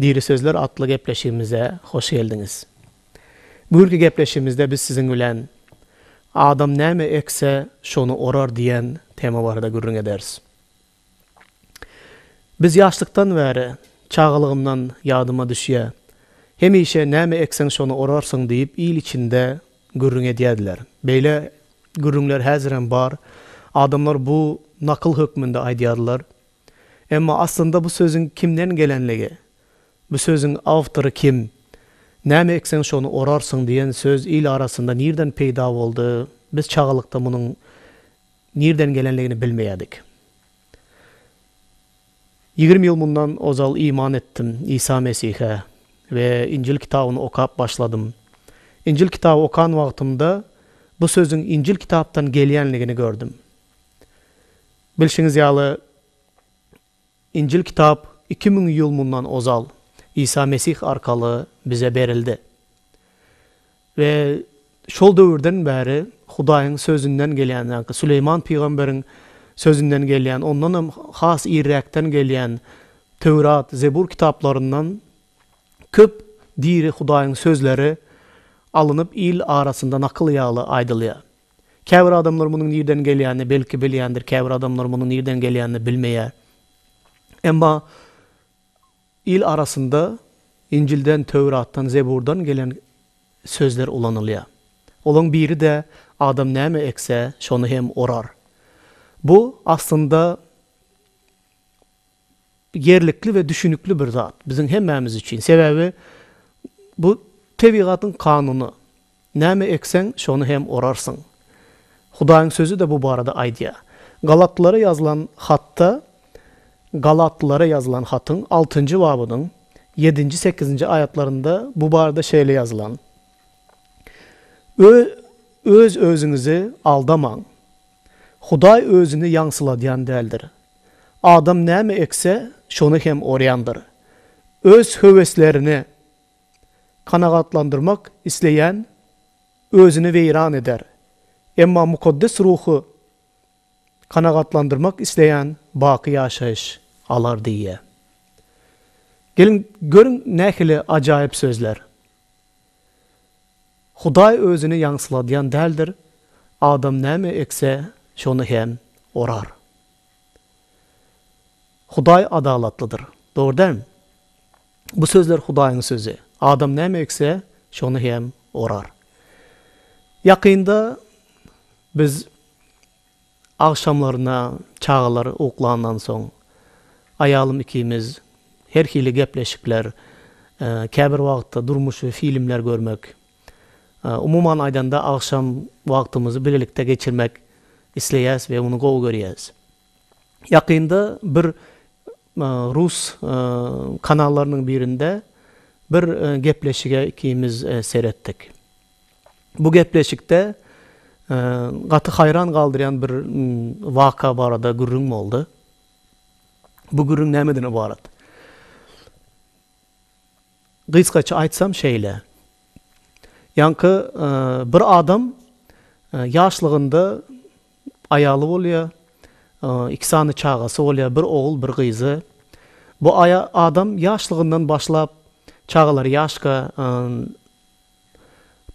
Diri sözler atly gepleşigimize hoş geldiňiz. Bu günki gepleşigimizde biz siziň bilen Adam näme ekse, şony orar diýen tema barada gürrüň ederis. Biz ýaşlykdan bäri, çagalygymdan ýadyma düşýär, hemişe näme ekseň şony orarsyň diýip il içinde gürrüň edýärdiler. Beýle gürrüňler häzirem bar. Adamlar bu nakyl hökmünde aýdýarlar. Emma aslynda bu sözüň kimden gelenligi, bu sözüň awtory kim, näme ekseň şony orarsyň diýen söz il arasynda nirden peýda boldy, biz çagalykda munuň nirden gelenligini bilmeýärdik. Ýigrimi ýyl mundan ozal iman etdim Isa Mesihe we Injil kitabyny okap başladym. Injil kitaby okan wagtymda bu sözüň Injil kitapdan gelýänligini gördüm. Bilşiňiz ýaly, Injil kitap iki müň ýyl mundan ozal Isa Mesih arkaly bize berildi. We şol döwürden bäri Hudaýyň Sözünden gelýän, ýagny Süleýman pygamberiň Sözünden gelýän, ondan hem has irräkden gelýän Töwrat, Zebur kitaplaryndan köp diri Hudaýyň sözleri alynyp il arasynda nakyl ýaly aýdylýar. Käbir adamlar munuň nirden gelýänini belki bilýändir, käbir adamlar munuň nirden gelýänini bilmeýär. Emma il arasynda Injilden, Töwratdan, Zeburdan gelen sözler ulanylýar. Olaň biri-de Adam näme ekse, şony hem orar. Bu, aslynda, ýerlikli we düşünikli bir zat biziň hemmämiz üçin. Sebäbi bu tebigatyň kanuny. Näme ekseň, şony hem orarsyň. Hudaýyň sözi-de bu barada aýdýar. Galatlylara ýazylan hatda Galatlylara ýazylan hatyň altynjy babynyň ýedinji, sekizinji aýatlarynda bu barada şeýle ýazylan, Öz-özüňizi aldamaň. Hudaý özüni ýaňsyladýan däldir. Adam näme ekse, şony hem orýandyr. Öz höweslerini kanagatlandyrmak isleýän özüni weýran eder, emma mukaddes ruhy kanagatlandyrmak isleýän baky ýaşaýyş alar diýýär. Geliň, görüň nähili ajaýyp sözler! Hudaý özüni ýaňsyladýan däldir, adam näme ekse, şony hem orar. Hudaý adalatlydyr. Dogry dälmi? Bu sözler Hudaýyň sözi. Adam näme ekse, şony hem orar. Ýakynda biz Agşamlaryna çagalar uklandan soň, aýalym ikimiz her hili gepleşikler, käbir wagtda durmuşy filmler görmek, umuman aýdanda agşam wagtymyzy bilelikde geçirmek isleýäs we muny gowy görýäs. Ýakynda bir rus kanallarynyň birinde bir gepleşige ikimiz seretdik. Bu gepleşikde gaty haýran galdyrýan bir waka barada gürrüň boldy. Bu gürrüň nämeden ybarat? Gysgaça aýtsam şeýle. Ýaňky bir adam ýaşlygynda aýaly bolýar, iki sany çagasy bolýar, bir ogul, bir gyzy. Bu adam ýaşlygyndan başlap, çagalary ýaşka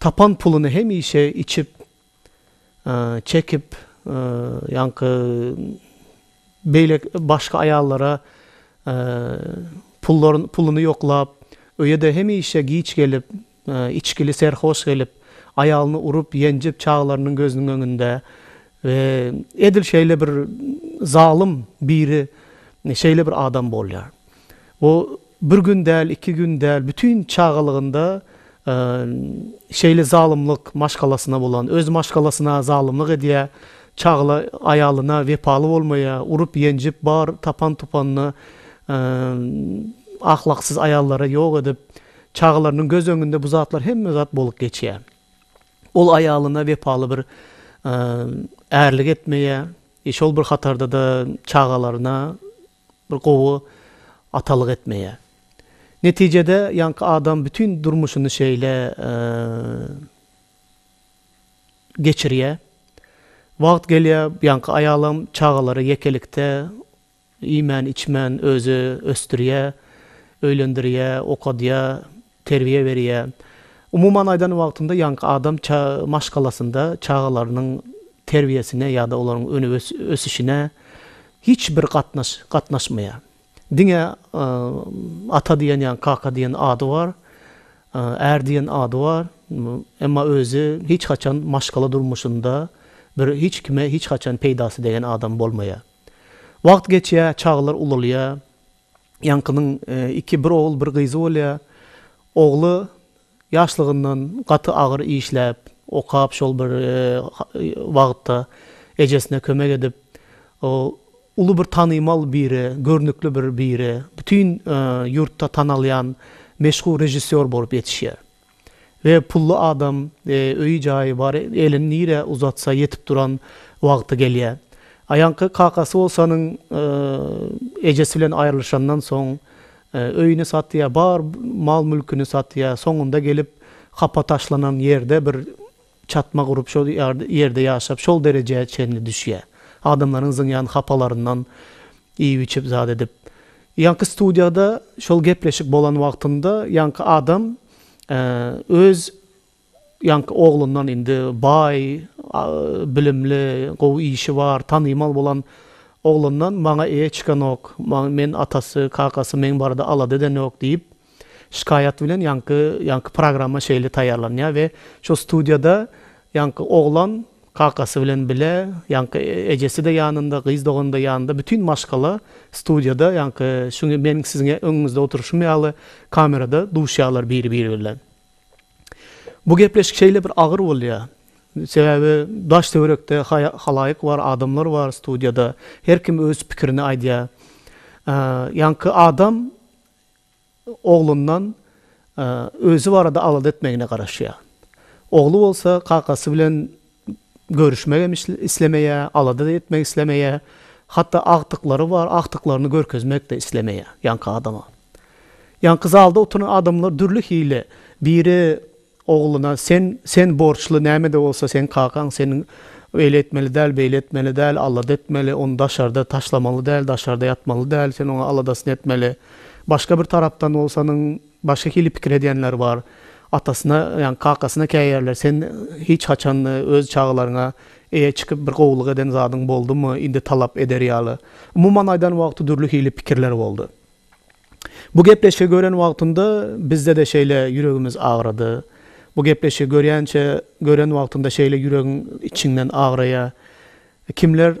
Tapan puluny hemişe içip, çekip, ýaňky beýle başga aýallara pullaryny puluny ýoklap, öýe-de hemişe giç gelip, içgili serhoş gelip, aýalyny urup, ýenjip, çagalarynyň gözüniň öňünde we edil şeýle bir zalym biri şeýle bir adam bolýar. O bir gün däl, iki gün däl, bütin çagalygynda şeýle zalymlyk maşgalasyna bolan, öz maşgalasyna zalymlyk edýär, çagla aýalyna wepaly bolmaýar, urup-ýenjip, bar tapan-tupanyny ahlaksyz aýallara ýok edip, çagalarynyň göz öňünde bu zatlar hemme zat bolup geçýär. Ol aýalyna wepaly bir ärlik etmeýär, şol bir hatarda-da çagalaryna bir gowy atalyk etmeýär. Netijede ýaňky adam bütin durmuşyny şeýle geçirýär. Wagt gelýär, ýaňky aýalam çagalary ýekelikde iýmän-içmän özi ösdürýär, öýlendirýär, okadýar, terbiýe berýär. Umuman aýdan wagtynda ýaňky adam ça maşgalasynda çagalarynyň terbiýesine ýa-da olaryň öne ös ösüşine hiç bir gatnaş gatnaşmaýar. Diňe ata diýen ýa kaka diýen ady bar, är diýen ady bar, emma özi hiç haçan maşgala durmuşynda bir hiç kime hiç haçan peýdasy degen adam bolmaýar. Wagt geçýär, çagalar ulalýar, Ýaňkynyň iki bir ogul bir gyzy bolýar. Ogly ýaşlygyndan gaty agyr işläp, okap şol bir wagtda ejesine kömek edip uly bir tanymal biri, görnükli bir biri, bütin ýurtda tanalýan meşhur režissýor bolup ýetişýär. We pully adam öýi jaýy bar elini nirä uzatsa ýetip duran wagty gelýä. Aýaňky kakasy bolsanyň ejesi bilen aýrylyşandan soň öýüni satýa bar mal mülkini satýa soňunda gelip hapa taşlanan ýerde bir Çatma gurup şol ýerde ýaşap şol derejä çenli düşýär. Adamlaryň zyňýan hapalaryndan iýip-içip zat edip. Ýaňky studiýada şol gepleşik bolan wagtynda ýaňky adam öz ýaňky oglundan indi baý, bilimli, gowy işi bar, tanymal bolan oglundan maňa eýe çykanok, men atasy, kakasy meň barada alada edenok diýip, Şikaýat bilen ýaňky ýaňky programma şeýle taýýarlanýar we şo studiýada ýaňky oglan kakasy bilen bile ýaňky ejesi-de ýanynda gyz dogany-da ýanynda bütin maşgala studiýada ýaňky şu meniň siziň öňüňizde oturyşym ýaly kamerada duşýarlar biri biri bilen. Bu gepleşik şeýle bir agyr bolýar. Sebäbi daş töwerekde halaýyk bar adamlar bar studiýada her kim öz pikirini aýdýar. Ýaňky adam oglundan özi barada alada etmegine garaşýar. Ogly bolsa kakasy bilen görüşmegem islemeýär, alada-da etmek islemeýär. Hatda agtyklary bar, agtyklaryny görkezmek-de islemeýär ýaňky adama. Ýaňky zalda oturan adamlar dürli hili, biri Ogluna, Sen, sen borçly, näme-de bolsa seň kakaň, sen öýle etmeli däl, beýle etmeli däl, alada etmeli, ony daşarda taşlamaly däl, daşarda ýatmaly däl, sen oňa aladasyny etmeli. Başga bir tarapdan bolsa onuň başga hili pikir edýänler bar. Atasyna, ýagny kakasyna käýerler, Sen hiç haçan öz çagalaryňa eýe çykyp bir gowulyk eden zadyň boldumy, indi talap eder ýaly. Umuman aýdan wagty dürli hili pikirler boldy. Bu gepleşigi gören wagtynda bizde-de şeýle ýüregimiz agrady. Bu gepleşigi görýänçä, gören wagtynda şeýle ýüregiň içiňden agraýa. Kimler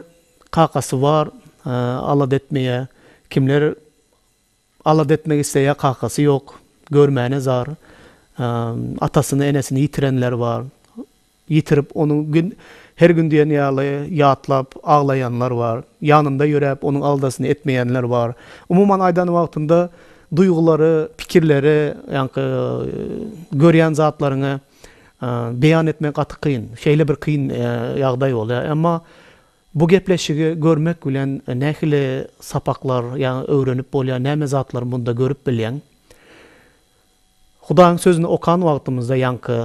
kakasy bar, alada etmeýä, kimler alada etmek isleýä, kakasy ýok, görmäne zar, atasyny, enesini ýitirenler bar. Ýitirip, ony gün, her gün diýen ýaly ýatlap, aglaýanlar bar. Ýanynda ýöräp, onuň aldasyny etmeýänler bar. Umuman, aýdan wagtynda duýgulary, pikirleri, ýaňky görýän zatlaryňy beýan etmek gaty kyn. Şeýle bir kyn ýagdaý bolýar. Emma bu gepleşigi görmek bilen nähili sapaklar, ýa öwrenip bolýar, näme zatlary munda görüp bilýäň? Hudaýyň Sözüni okan wagtymyzda ýaňky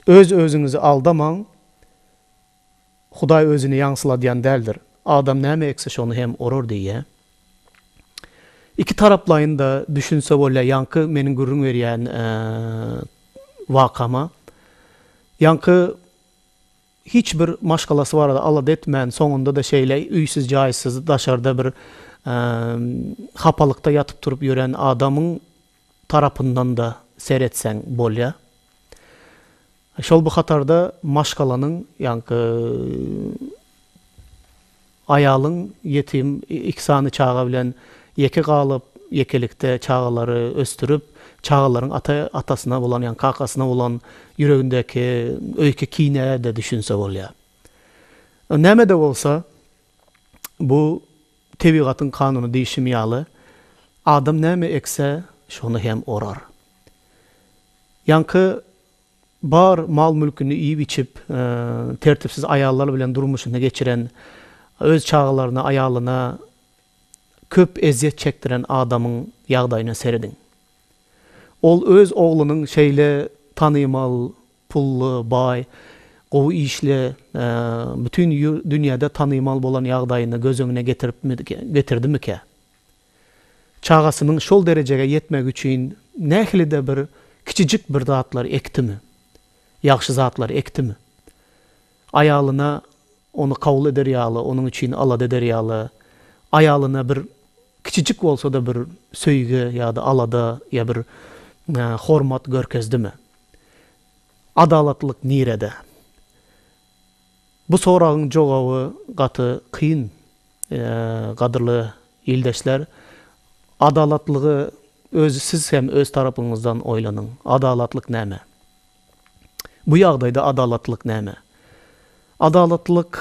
Öz-özüňizi aldamaň, Hudaý Özüni ýaňsyladýan däldir. Adam näme ekse, şony hem orar diýýär. Iki taraplaýyn-da düşünse bolýar ýaňky meniň gürrüň berýän wakama. Ýaňky Hiç bir maşgalasy barada alada etmän, soňunda-da şeýle üýsüz-jaýsyz, daşarda bir hapalykda ýatyp-turup ýören adamyň tarapyndan-da seretseň bolýar. Şol bir hatarda maşgalanyň, ýaňky, Aýalyň ýetim iki sany çaga bilen ýeke galyp, ýekelikde çagalary ösdürip, çagalaryň ata atasyna bolan, ýagny kakasyna bolan ýüregindäki öýki kinä-de düşünse bolýar. Näme-de bolsa, bu tebigatyň kanuny diýşim ýaly, adam näme ekse, şony hem orar. Ýaňky Bar mal-mülküni iýip-içip, tertipsiz aýallar bilen durmuşyny geçiren, öz çagalaryna, aýalyna köp ezýet çekdiren adamyň ýagdaýyna serediň. Ol öz oglunyň şeýle tanymal, pully, baý, gowy işli, bütin dünýäde tanymal bolan ýagdaýyny göz öňüne getirdimikä? Çagasynyň şol derejege ýetmegi üçin nähili-de bir kiçijik bir zatlar ekdimi? Ýagşy zatlar ekdimi? Aýalyna ony kabul eder ýaly, onuň üçin alada eder ýaly, aýalyna bir kiçijik bolsa-da bir söýgi ýa-da alada ýa bir hormat görkezdimi? Adalatlylyk nirede? Bu soragyň jogaby gaty kyn, gadyrly ildeşler. Adalatlygy özi siz hem öz tarapyňyzdan oýlanyň. Adalatlyk näme? Bu ýagdaýda adalatlylyk näme? Adalatlylyk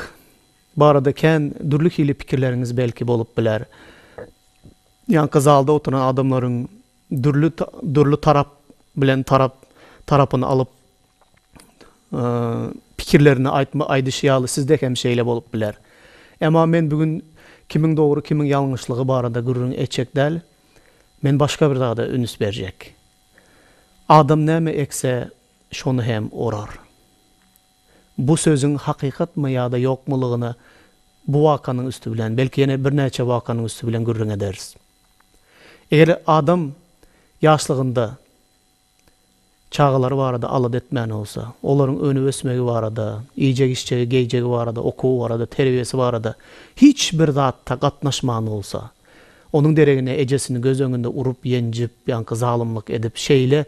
barada kän dürli hili pikirleriňiz belki bolup biler. Ýaňky zalda oturan adamlaryň dürli dürli tarap bilen tarap tarapyny alyp pikirlerini aýtma aýdyşy ýaly sizde hem şeýle bolup biler. Emma men bu gün kimiň dogry kimiň ýalňyşlygy barada gürrüň etjek däl, men başga bir zada üns berjek. Adam näme ekse şony hem orar. Bu sözüň hakykatmy ýa-da ýokmulygyna bu wakanyň üsti bilen, belki ýene birnäçe wakanyň üsti bilen gürrüň ederis. Eger adam ýaşlygynda Çagalary barada alada etmän bolsa, olaryň önüp-ösmegi barada, iýjek-içjegi, geýjegi barada, okuwy barada, terbiýesi barada hiç bir zatda gatnaşman bolsa, onuň deregine ejesini göz öňünde urup-ýenjip, ýaňky zalymlyk edip, şeýle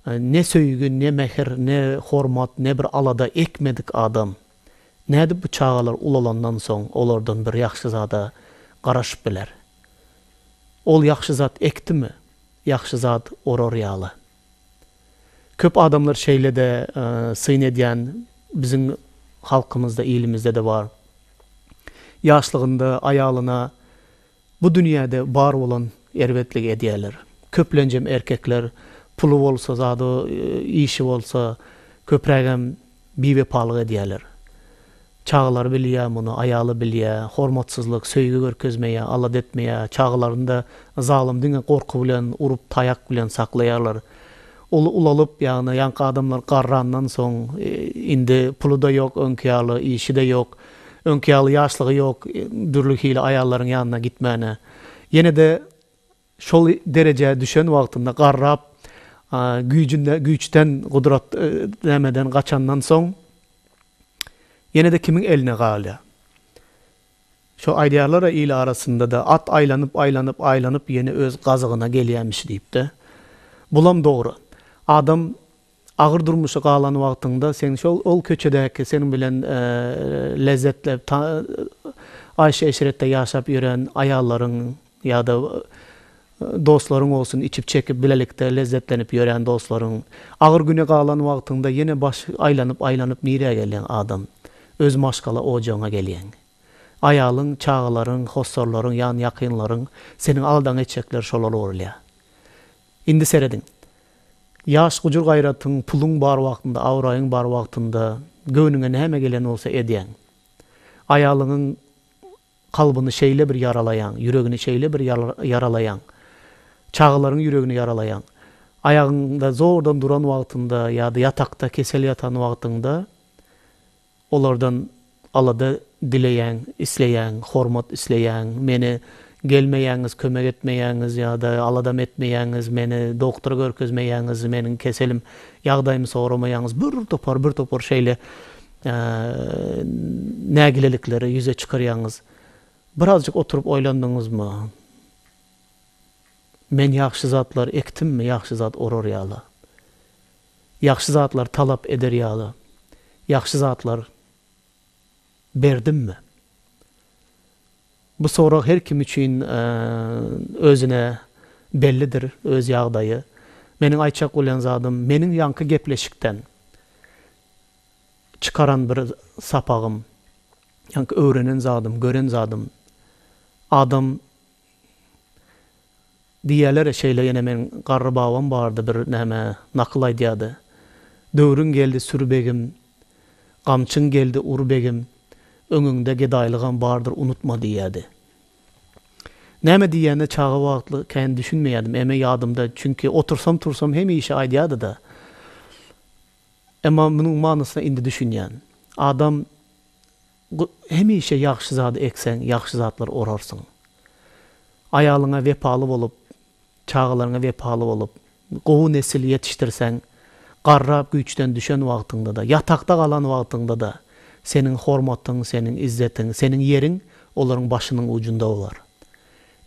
ne söýgi, ne mähir, ne hormat, ne bir alada ekmedik adam, nädip bu çagalar ulalandan soň olardan bir ýagşy zada garaşyp biler? Ol ýagşy zat ekdimi? Ýagşy zat orar ýaly. Köp adamlar şeýle-de syn edýän biziň halkymyzda, ilimizde-de bar. Ýaşlygynda aýalyna bu dünýäde bar bolan erbetligi edýärler. Köplenjem erkekler puly bolsa, zady, işi bolsa, köprägem biwepalyk edýärler. Çagalary bilýär muny, aýaly bilýär, hormatsyzlyk, söýgi görkezmeýär, alada etmeýär, çagalaryny-da zalym diňe gorky bilen, urup, taýak bilen saklaýarlar. Ol ulalyp, ýagny ýaňky adamlar garrandan soň, indi puly-da ýok öňki ýaly, işi-de ýok, öňki ýaly ýaşlygy ýok, dürli hili aýallaryň ýanyna gitmäne. Ýene-de Şol derejä düşen wagtynda garrap, güýjünde güýçden, gudrat nämeden gaçandan soň, ýene-de kimiň eline galýar? Şo aýdýarlar-a il arasynda-da, At aýlanyp, aýlanyp, aýlanyp ýene öz gazygyna gelýämiş diýip-de. Bulam dogry. Adam Agyr durmuşa galan wagtyňda sen şol ol köçedäki seniň bilen lezzetlep aýşy-eşretde ýaşap ýören aýallaryň ýa-da dostlaryň bolsun, içip-çekip bilelikde lezzetlenip ýören dostlaryň. Agyr güne galan wagtyňda ýene baş aýlanyp-aýlanyp nirä gelýäň adam? Öz maşgala ojagyňa gelýäň. Aýalyň, çagalaryň, hossarlaryň, ýan-ýakynlaryň seniň aldaňy etjekler şolar bolýar. Indi serediň. Ýaş gujur-gaýratyň, puluň bar wagtynda, abraýyň bar wagtynda göwnüňe näme gelen bolsa edýäň. Aýalyňyň kalbyny şeýle bir ýaralaýaň, ýüregini şeýle bir ýaralaýaň, çagalaryň ýüregini ýaralaýaň. Aýagyňda zordan duran wagtynda ýa-da ýatakda kesel ýatan wagtyňda, Olardan alada dileýäň, isleýäň, hormat isleýäň, meni gelmeýäňiz, kömek etmeýäňiz ýa-da aladam etmeýäňiz, meni doktora görkezmeýäňiz, meniň keselim, ýagdaýymy soramaýaňyz, bir topar, bir topar şeýle nägilelikleri ýüze çykarýaňyz. Birazjyk oturyp oýlandyňyzmy? Men ýagşy zatlar ekdimmi, ýagşy zat orar ýala. Ýagşy zatlar talap eder ýaly ýagşy zatlar berdimmi? Bu sorag her kim üçin özüne bellidir, öz ýagdaýy. Meniň aýtjak bolýan zadym, meniň ýaňky gepleşikden çykaran bir sapagym, ýaňky öwrenen zadym, gören zadym, adam, Diýýäler şeýle ýene meň garry babam bardy bir näme nakyl aýdýardy. Döwrüň geldi sür begim, gamçyň geldi ur begim, öňüňde gedaýlygam bardyr unutma diýýärdi. Näme diýýänine çaga wagtly kän düşünmeýärdim, eme ýadymda çünki otursam tursam hemişe aýdýardyda. Emma munuň manysyna indi düşünýän. Adam Hemişe ýagşy zady ekseň, ýagşy zatlar orarsyň. Aýalyňa wepaly bolup, çagalaryňa wepaly bolup, gowy nesil ýetişdirseň, garrap güýçden düşen wagtyňda-da, ýatakda galan wagtyňda-da seniň hormatyň, seniň izzetiň, seniň ýeriň olaryň başynyň ujunda bolar.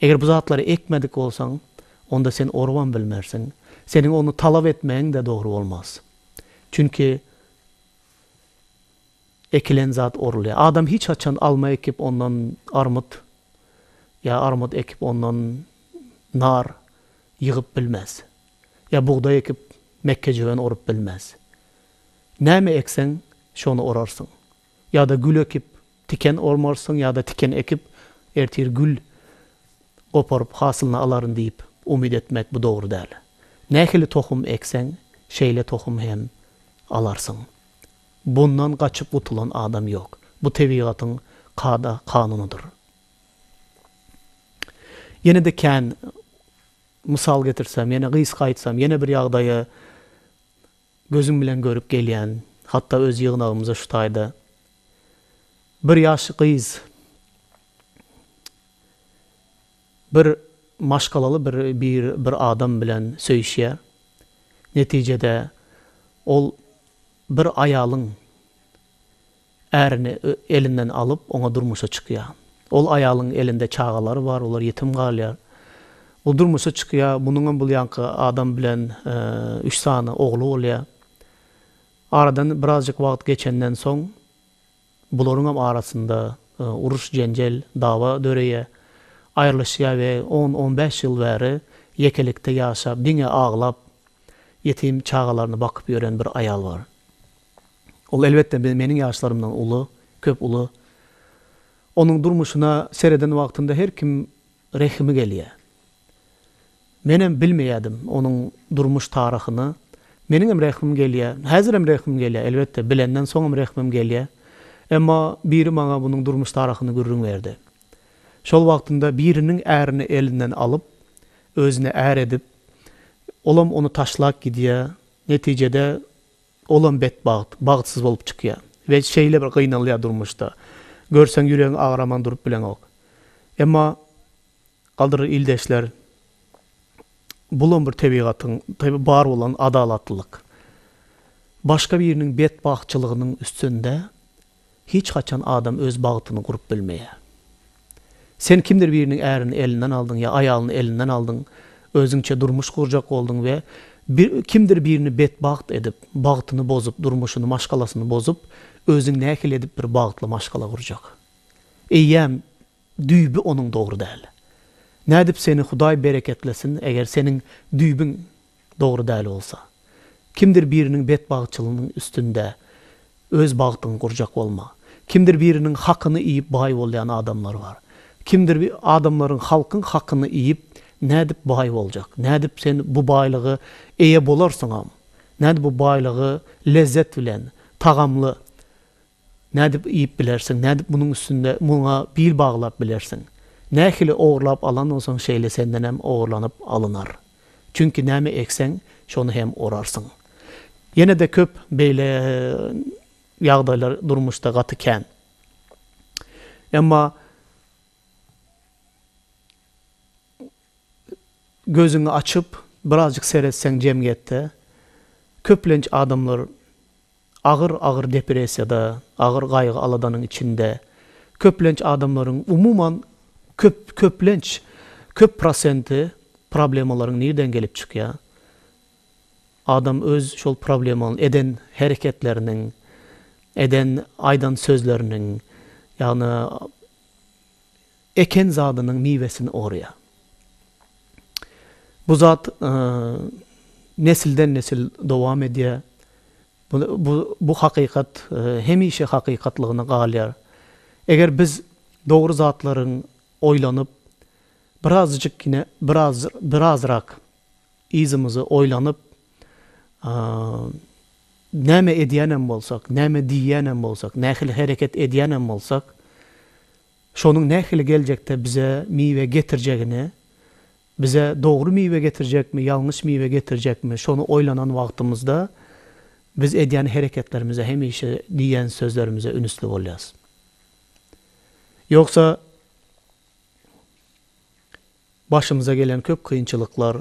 Eger bu zatlary ekmedik bolsaň, onda sen orubam bilmersiň. Seniň ony talap etmegiň-de dogry bolmaz. Çünki. Ekilen zat orulýar. Adam hiç haçan alma ekip ondan armyt ýa armyt ekip ondan nar ýygyp bilmez. Ýa bugdaý ekip mekgejöwen orup bilmez. Näme ekseň şony orarsyň. Ýa-da gül ekip tiken ormarsyň ýa-da tiken ekip ertir gül goparyp hasylyny alaryn diýip umyt etmek bu dogry däl. Nähili tohum ekseň şeýle tohum hem alarsyň. Bundan gaçyp gutulan adam ýok. Bu tebigatyň kada-kanunydyr. Ýene-de kän mysal getirsem, ýene gysga aýtsam, ýene bir ýagdaýy gözüm bilen görüp gelýän, hatda öz ýygnagymyza şu taýda bir ýaş gyz, Bir maşgalaly bir bir bir adam bilen söýüşýär. Netijede ol bir aýalyň ärini elinden alyp, oňa durmuşa çykýar. Ol aýalyň elinde çagalary bar, olar ýetim galýar. Ol durmuşa çykýar, munuňam bul ýanky adam bilen üç sany ogly bolýar. Aradan birazjyk wagt geçenden soň. Bularyňam arasynda uruş-jenjel, dawa döreýär. Aýrylyşýar we on-on bäş ýyl bäri ýekelikde ýaşap, diňe aglap, ýetim çagalaryny bakyp ýören bir aýal bar. Ol, elbetde, meniň ýaşlarymdan uly, köp uly. Onuň durmuşyna sereden wagtynda her kim rehimi gelýär. Menem bilmeýädim onuň durmuş tarahyny. Meniňem rehmim gelýä. Häzirem rehmim gelýä, elbetde, bilenden soňam rehmim gelýä. Emma biri maňa bunuň durmuş tarahyny gürrüň berdi. Şol wagtynda biriniň ärini elinden alyp, özüne är edip, olam ony taşlap gidýär. Netijede, olam betbagt, bagtsyz bolup çykýar we şeýle bir gynalýar durmuşda. Görseň ýüregiň agraman durup bileňok. Emma Gadyr ildeşler bulam bir tebigatyň tabi bar bolan adalatlylyk. Başga biriniň bet bagtçylygynyň üstünde hiç haçan adam öz bagtyny gurup bilmeýär. Sen kimdir biriniň ärini elinden aldyň ýa aýalyny elinden aldyň, özüňçe durmuş gurjak bolduň we bir kimdir birini bet bagt edip, bagtyny bozup, durmuşyny, maşgalasyny bozup, özüň nähili edip bir bagtly maşgala gurjak. Eýýäm Düýbi onuň dogry däl. Nädip seni Hudaý bereketlesin eger seniň düýbiň dogry däl bolsa. Kimdir biriniň betbagtçylygynyň üstünde öz bagtyňy gurjak bolma. Kimdir biriniň hakyny iýip baý bolýan adamlar bar. Kimdir adamlaryň halkyň hakyny iýip nädip baý boljak. Nädip sen bu baýlygy eýe bolarsyňam. Nädip bu baýlygy lezzet bilen, tagamly Nädip iýip bilersiň? Nädip munuň üstünde muňa bil baglap bilersiň? Nähili ogurlap alan bolsaň, şeýle senden hem ogurlanyp alynar. Çünki näme ekseň, şony hem orarsyň. Ýene-de köp beýle ýagdaýlar durmuşda gaty kän. Emma Gözüňi açyp, birazjyk seretseň jemgyýetde köplenç adamlar agyr-agyr depressiýada, agyr gaýgy-aladanyň içinde. Köplenç adamlaryň, umuman, köp, köplenç, köp prosenti problemalaryň nirden gelip çykýar? Adam öz şol problemanyň eden hereketleriniň, eden, aýdan sözleriniň, ýagny, Eken zadynyň miwesini orýar. Bu zat nesilden-nesil dowam edýär. Bu hakykat hemişe hakykatlygyna galýar. Eger biz dogry zatlaryň oýlanyp, birazjyk ýene biraz birazrak yzymyzy oýlanyp, näme edýänem bolsak, näme diýýänem bolsak, nähili hereket edýänem bolsak, Şonuň nähili geljekde bize miwe getirjegini, bize dogry miwe getirjekmi, ýalňyş miwe getirjekmi, şony oýlanan wagtymyzda biz edýän hereketlerimize, hemişe diýýän sözlerimize ünsli bolýarys. Ýogsa, başymyza gelen köp kynçylyklar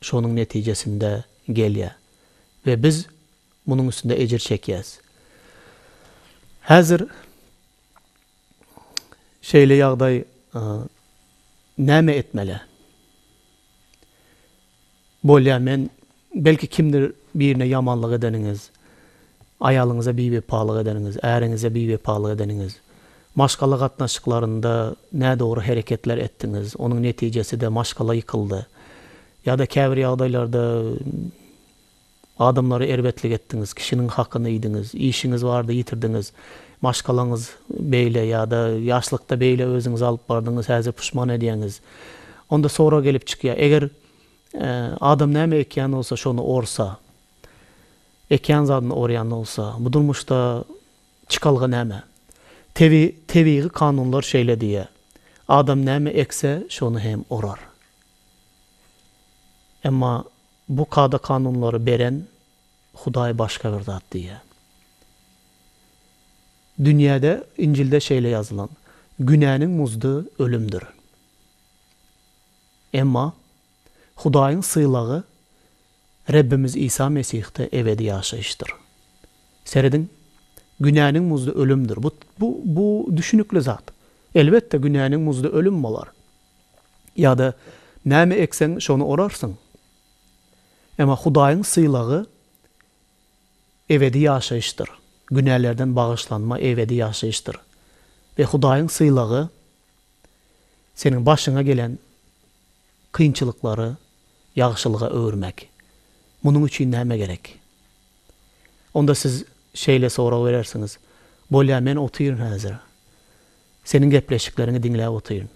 şonuň netijesinde gelýär we biz munuň üstünde ejir çekýäris. Häzir Şeýle ýagdaý näme etmeli? Bolýar men belki kimdir birine ýamanlyk edeniňiz, aýalyňyza biwepalyk edeniňiz, äriňize biwepalyk edeniňiz, maşgala gatnaşyklarynda nädogry hereketler etdiňiz, onuň netijeside maşgala ýykyldy. Ýa-da käbir ýagdaýlarda Adamlara erbetlik etdiňiz, kişiniň hakyny iýdiňiz, işiňiz bardy ýitirdiňiz, maşgalaňyz beýle ýa-da ýaşlykda beýle özüňizi alyp bardyňyz, häzir puşman edýäňiz. Onda sorag gelip çykýar, eger adam näme ekýän bolsa, şony orsa, ekýän zadyny orýan bolsa, bu durmuşda çykalga näme? Tebi, tebigy kanunlar şeýle diýýär, Adam näme ekse, şony hem orar. Emma. Bu kada-kanunlary beren Hudaý başga bir zat diýýär. Dünýäde, Injilde şeýle ýazylan, Günäniň muzdy ölümdir. Emma Hudaýyň sylagy Rebbimiz Isa Mesihde ebedi ýaşaýyşdyr. Serediň, Günäniň muzdy ölümdir. Bu, bu, bu düşünikli zat. Elbetde, günäniň muzdy ölüm bolar. ýa-da näme ekseň, şony orarsyň. Emma Hudaýyň sylagy ebedi ýaşaýyşdyr, günälerden bagyşlanma ebedi ýaşaýyşdyr we Hudaýyň sylagy seniň başyňa gelen kynçylyklary ýagşylyga öwürmek. Munuň üçin näme gerek? Onda siz şeýle sorag berersiňiz, Bolýa, men otyryn häzir. Seniň gepleşikleriňi diňläp otyryn.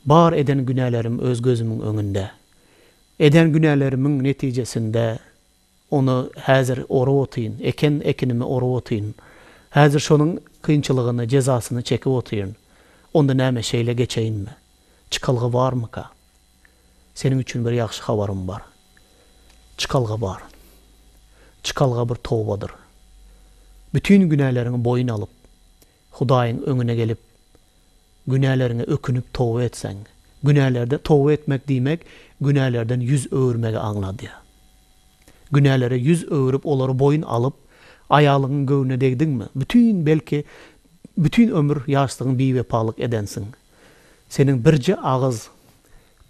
Bar eden günälerim öz gözümiň öňünde. Eden günälerimiň netijesinde ony häzir orup otyryn, eken ekinimi orup otyryn. Häzir şonuň kynçylygyny, jezasyny çekip otyryn. Onda näme şeýle geçeýinmi? Çykalga barmyka? Seniň üçin bir ýagşy habarym bar. Çykalga bar. Çykalga bir tobadyr. Bütin günäleriňi boýun alyp, Hudaýyň öňüne gelip, günäleriňe ökünip toba etseň, günälerde toba etmek diýmek günälerden ýüz öwürmegi aňladýar. Günälere ýüz öwürip olary boýun alyp, aýalyňyň göwnüne degdiňmi, bütin belki bütin ömür ýaşlygyň biwepalyk edensiň. Seniň birje agyz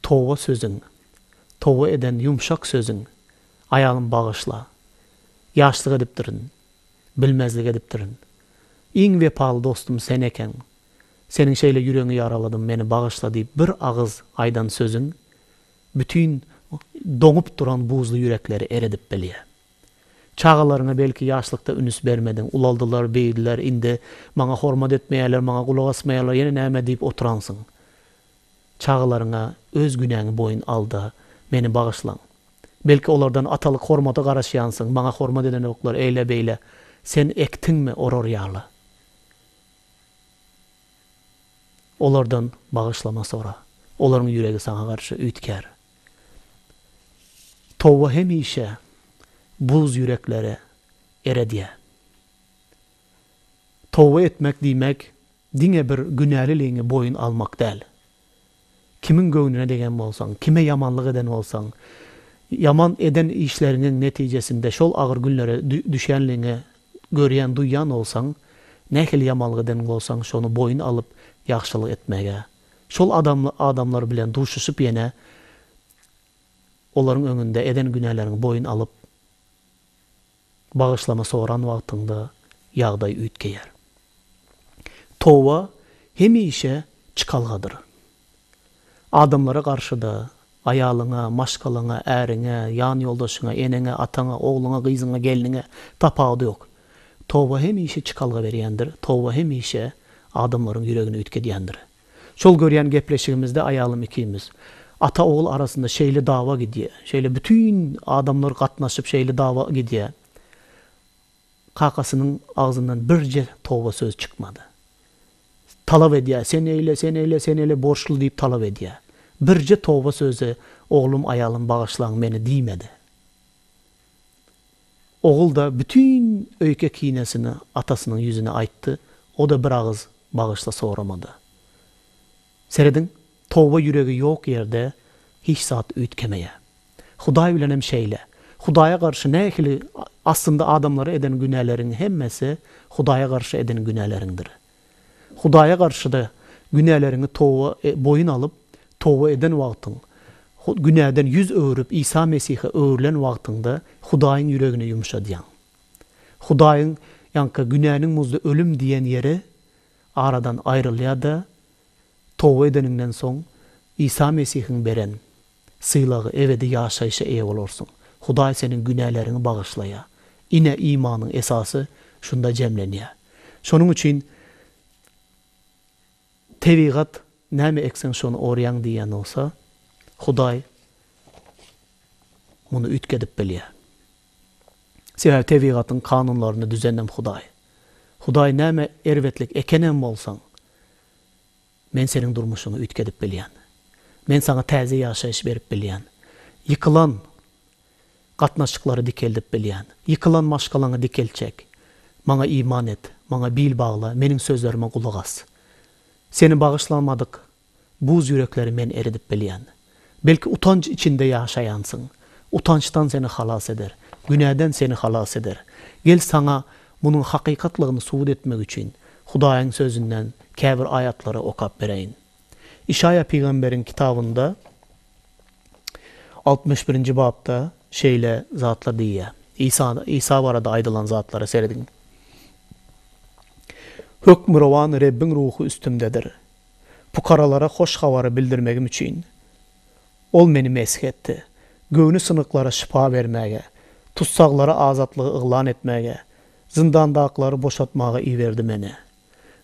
toba sözüň, toba eden ýumşak sözüň, Aýalym bagyşla, ýaşlyk edipdirin, Bilmezlik edipdirin. Iň wepaly dostum sen ekeň. Seniň şeýle ýüregiňi ýaraladym, meni bagyşla diýip bir agyz aýdan sözüň bütin doňup duran buzly ýürekleri eredip bilýär. Çagalaryňa belki ýaşlykda ünüs bermediň, ulaldylar, beýdiler, indi maňa hormat etmeýärler, maňa gulak asmaýarlar, ýene näme diýip oturansyň. Çagalaryňa öz günäňi boýun al-da, meni bagyşlaň. Belki, olardan atalyk hormady garaşýansyň, maňa hormat edenoklar, eýle-beýle, sen ekdiňmi, orar ýaly. Olardan bagyşlama sora. Olaryň ýüregi saňa garşy üýtgär. Toba hemişe buz ýürekleri eredýär. Toba etmek diýmek, Diňe bir günäliligiňi boýun almak däl. Kimiň göwnüne degen bolsaň, kime ýamanlyk eden bolsaň, ýaman eden işleriňiň netijesinde şol agyr günlere düşenligiňi görýän, duýýan bolsaň, nähili ýamanlyk eden bolsaň, şony boýun alyp, ýagşylyk etmäge, şol adamlar bilen duşuşyp ýene olaryň öňünde eden günäleriňi boýun alyp, Bagyşlama soran wagtyňda ýagdaý üýtgeýär. Toba hemişe çykalgadyr. Adamlara garşy-da, aýalyňa, maşgalaňa, äriňe, ýanýoldaşyňa, eneňe, ataňa, ogluňa, gyzyňa, gelniňe, tapawudy ýok. Toba hemişe çykalga berýändir, toba hemişe adamlaryň ýüregini üýtgedýändir. Şol görýän gepleşigimizde aýalym ikimiz, Ata-ogul arasynda şeýle dawa gidýä, şeýle bütin adamlar gatnaşyp şeýle dawa gidýä. Kakasynyň agzyndan birje toba söz çykmady. Talap edýä, sen eýle, sen eýle, sen eýle borçly diýip talap edýä. Birje toba söze oglum, aýalym bagyşlaň meni diýmedi. Ogul-da bütin öýke-kinesini atasynyň ýüzüne aýtdy, o-da bir agyz bagyşla soramady. Serediň, toba ýüregi ýok ýerde hiç zat üýtgemeýär. Hudaý bilenem şeýle. Hudaýa garşy nähili, aslynda adamlara eden günäleriň hemmesi Hudaýa garşy eden günäleriňdir. Hudaýa garşy-da günäleriňi toba, e, boýun alyp, toba eden wagtyň, Hu, günäden ýüz öwrüp, Isa Mesihe öwrülen wagtyňda Hudaýyň ýüregini ýumşadýaň. Hudaýyň, ýaňka, günäniň muzy ölüm diýen ýeri aradan aýrylýar-da, toba edeniňden soň, Isa Mesihiň beren, sylagy, ebedi ýaşaýşa eýe bolarsyň. Hudaý seniň günäleriňi bagyşlaýar. Ine, imanyň esasy şunda jemlenýär. Şonuň üçin tebigat näme ekseň şony orýaň diýýän bolsa, Hudaý muny üýtgedip bilýär. Sebäbi tebigatyň kanunlaryny düzenem Hudaý. Hudaý näme erbetlik ekenem bolsaň, Men seniň durmuşyňy üýtgedip bilýän. Men saňa täze ýaşaýyş berip bilýän. Ýykylan gatnaşyklary dikeldip bilýän. Ýykylan maşgalaňy dikeltjek. Maňa iman et, Maňa bil bagla, Meniň sözlerime gulak as. Seni bagyşlamadyk buz ýürekleri Men eridip bilýän. Belki utanç içinde ýaşaýansyň. Utançdan seni halas eder. Günäden seni halas eder. Gel saňa munuň hakykatlygyny subut etmek üçin Hudaýyň sözünden käbir aýatlary okap bereýin. Işaýa pygamberiň kitabynda altmyş birinji bapda şeýle zatlar diýýär. Isa Isa barada aýdylan zatlara serediň. Hökmürowan Rebbiň ruhy üstümdedir. Pukaralara hoş habary bildirmegim üçin, Ol meni mesh etdi. Göwni synyklara şypa bermäge, tussaglara azatlygy yglan etmäge, zyndandakylary boşatmaga iberdi meni.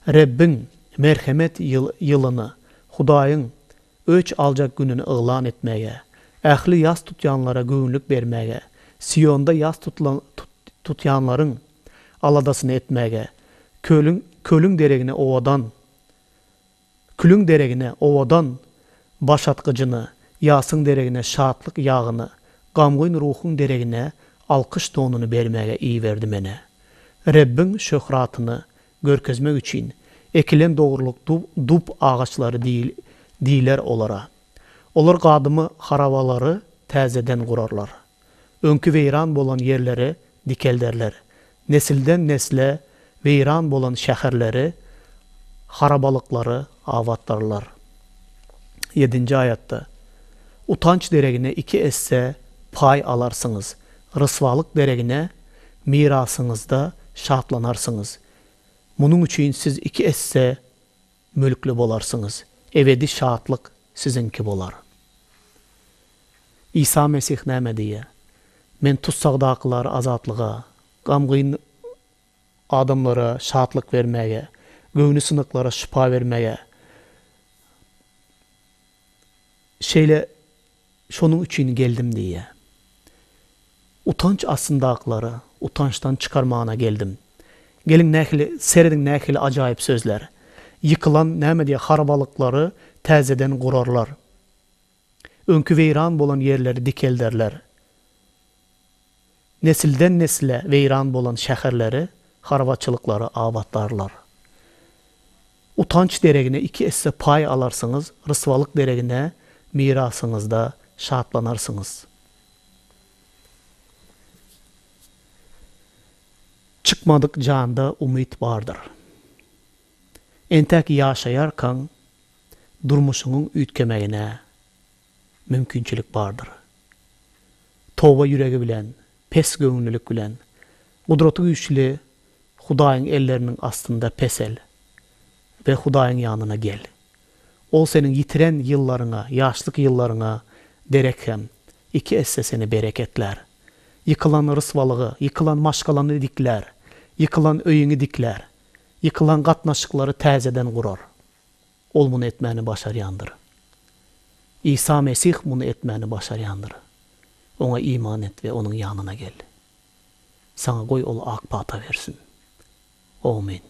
Rebbiň, merhemet ýyl, ýylyny, Hudaýyň, öç aljak gününi yglan etmäge, ähli ýas tutýanlara göwünlik bermäge, Sionda ýas tutulan, tut, tutýanlaryň aladasyny etmäge, kölüň, kölüň deregini owadan, Külüň deregine owadan başatgyjyny, ýasyň deregine şatlyk ýagyny, gamgyn ruhuň deregine alkyş donuny bermäge iberdi menä. Rebbiň şöhratyny görkezmek üçin ekilen dogrulyk dub agaçlary diýler olara. Olar gadymy harabalary täzeden gurarlar. öňki weýran bolan ýerleri dikelderler, nesilden-nesle weýran bolan şäherleri, harabalyklary abatlarlar. Ýedinji aýatda, Utanç deregine iki esse paý alarsyňyz, ryswalyk deregine mirasyňyzda şatlanarsyňyz. Munuň üçin siz iki esse Mülkli bolarsyňyz. Ebedi şatlyk siziňki bolar. Isa Mesih näme diýýär? Men tussagdakylary azatlyga, gamgyn adamlara şatlyk bermäge, göwni synyklara şypa bermäge Şeýle şonuň üçin geldim diýýär. Utanç astyndakylara utançdan çykarmagyna geldim. Geliň nähili, serediň nähili ajaýyp sözler. Ýykylan, näme diýýär, harabalyklary täzeden gurarlar. Öňki weýran bolan ýerleri dikelderler. Nesilden-nesle weýran bolan şäherleri, harbaçylyklary abatlarlar. Utanç deregine iki esse paý alarsyňyz, ryswalyk deregine mirasyňyzda şatlanarsyňyz. Çykmadyk janda umyt bardyr. Entek ýaşaýarkaň durmuşyňyň üýtgemegine. mümkinçilik bardyr. Toba ýüregi bilen, pes göwünlilik bilen Gudraty güýçli Hudaýyň elleriniň astynda pesel we Hudaýyň ýanyna gel. Ol seniň ýitiren ýyllaryňa, ýaşlyk ýyllaryňa derek hem iki esse seni bereketlär. Ýykylan ryswalygy, ýykylan maşgalany diklär, ýykylan öýüňi diklär, ýykylan gatnaşyklary täzeden gurar. Ol muny etmäni başarýandyr. Isa Mesih muny etmäni başarýandyr. Oňa iman et we Onuň ýanyna gel. Saňa goý Ol ak pata bersin. Omyn.